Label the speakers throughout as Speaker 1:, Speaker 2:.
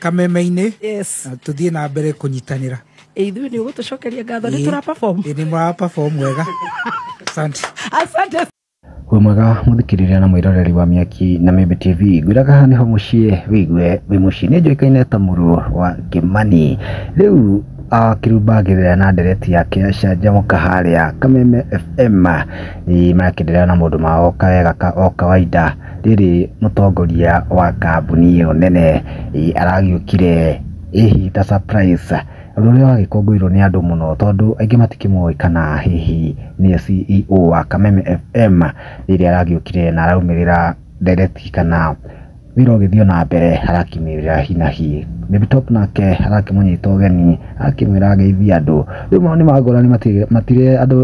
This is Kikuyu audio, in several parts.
Speaker 1: kameme-inĩ yes na tũthiĩ na mbere kũnyitanĩra Eh, ithuĩ nĩ
Speaker 2: ũgũtũcokeria ngatho nĩ tũra perform Ĩĩ, nĩ mũra perform
Speaker 1: wega asante
Speaker 2: asante wĩ
Speaker 3: mwega mũthikĩrĩria na mwĩroreri wa mĩaki na mĩmbi tv ngwĩraga haha nĩho mũciĩ wĩigue wĩ mũciĩ nĩ njũĩkaine ta mũrũ wa kĩmani rĩu ah, kĩrumba ngĩthera na ndereti yake canjamũka harĩa kameme fm Ĩ, marakĩnderera na mũndũ mao kawega ka o kawaida Rĩrĩ mũtongoria wa kambuni ĩyo nene aragĩũkire hihi ta surprise ũndũ ũrĩa wagĩkũngũĩrwo nĩ andũ mũno tondũ aingĩ matikĩmũĩ kana hihi nĩwe CEO wa Kameme FM rĩrĩa aragĩũkire na araumĩrĩra ndereti kana wĩra ũgĩthiĩ o na mbere arakiumĩrĩra hi na hi. Babytop nake arakĩmũnyita ũgeni akĩmwĩra ageithie andũ. Rĩu maũndũ nĩ magorana andũ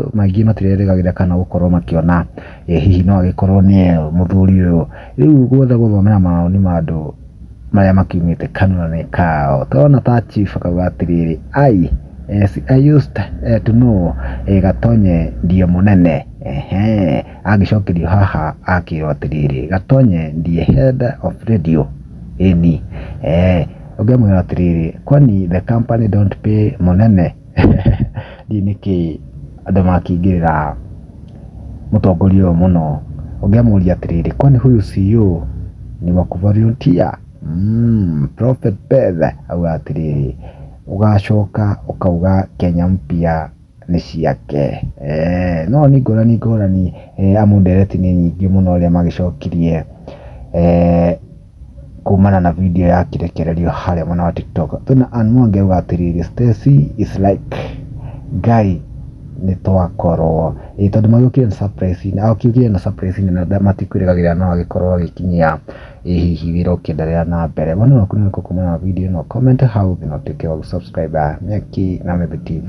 Speaker 3: matirerĩgagĩrĩra kana gũkorwo makĩona. Ĩ hihi no agĩkorwo nĩye mũthuri ũyũ? Rĩu gwothe gũthomera mawoni ma andũ marĩa makiumĩte kanua-inĩ kao. Tũrona ta chief akauga atĩrĩrĩ, I, yes, I used to know Gatonye ndiye mũnene. Ehe. Agĩcokerio haha akĩrwo atĩrĩrĩ, Gatonye ndiye head of radio. Ĩni. Eeh. Ũngĩamwĩra atĩrĩrĩ, kwani the company don't pay mũnene? Ndiũĩ nĩkĩ andũ makĩingĩrĩra mũtongoria ũyũ mũno, ũngĩamũria atĩrĩrĩ kwani huyu si ũ ni wa ku volunteer? prophet Beth augaga atĩrĩrĩ ũgacoka ũkauga Kenya mpya nĩ ciake. No nĩ ngũrani ngũrani amu ndereti nĩ nyingĩ mũno ũrĩa magĩcokirie. kumana na video ya kirekererio harĩa mwena wa tiktok twĩna Ann Mwangi auga atĩrĩrĩ Stacy is like guy nĩ twakorwo ĩ tondũ magĩũkire na surprise inĩ agĩũkire na surprise inĩ na matikwĩrĩgagĩrĩra no agĩkorwo agĩkinyia ĩ hihi wĩra ũkĩenderea na mbere woni waku nĩ ũrĩkũ kumana na video ĩno comment hau thĩ na ũtuĩke wa gũsubscribe Nyeki na Mĩthĩ TV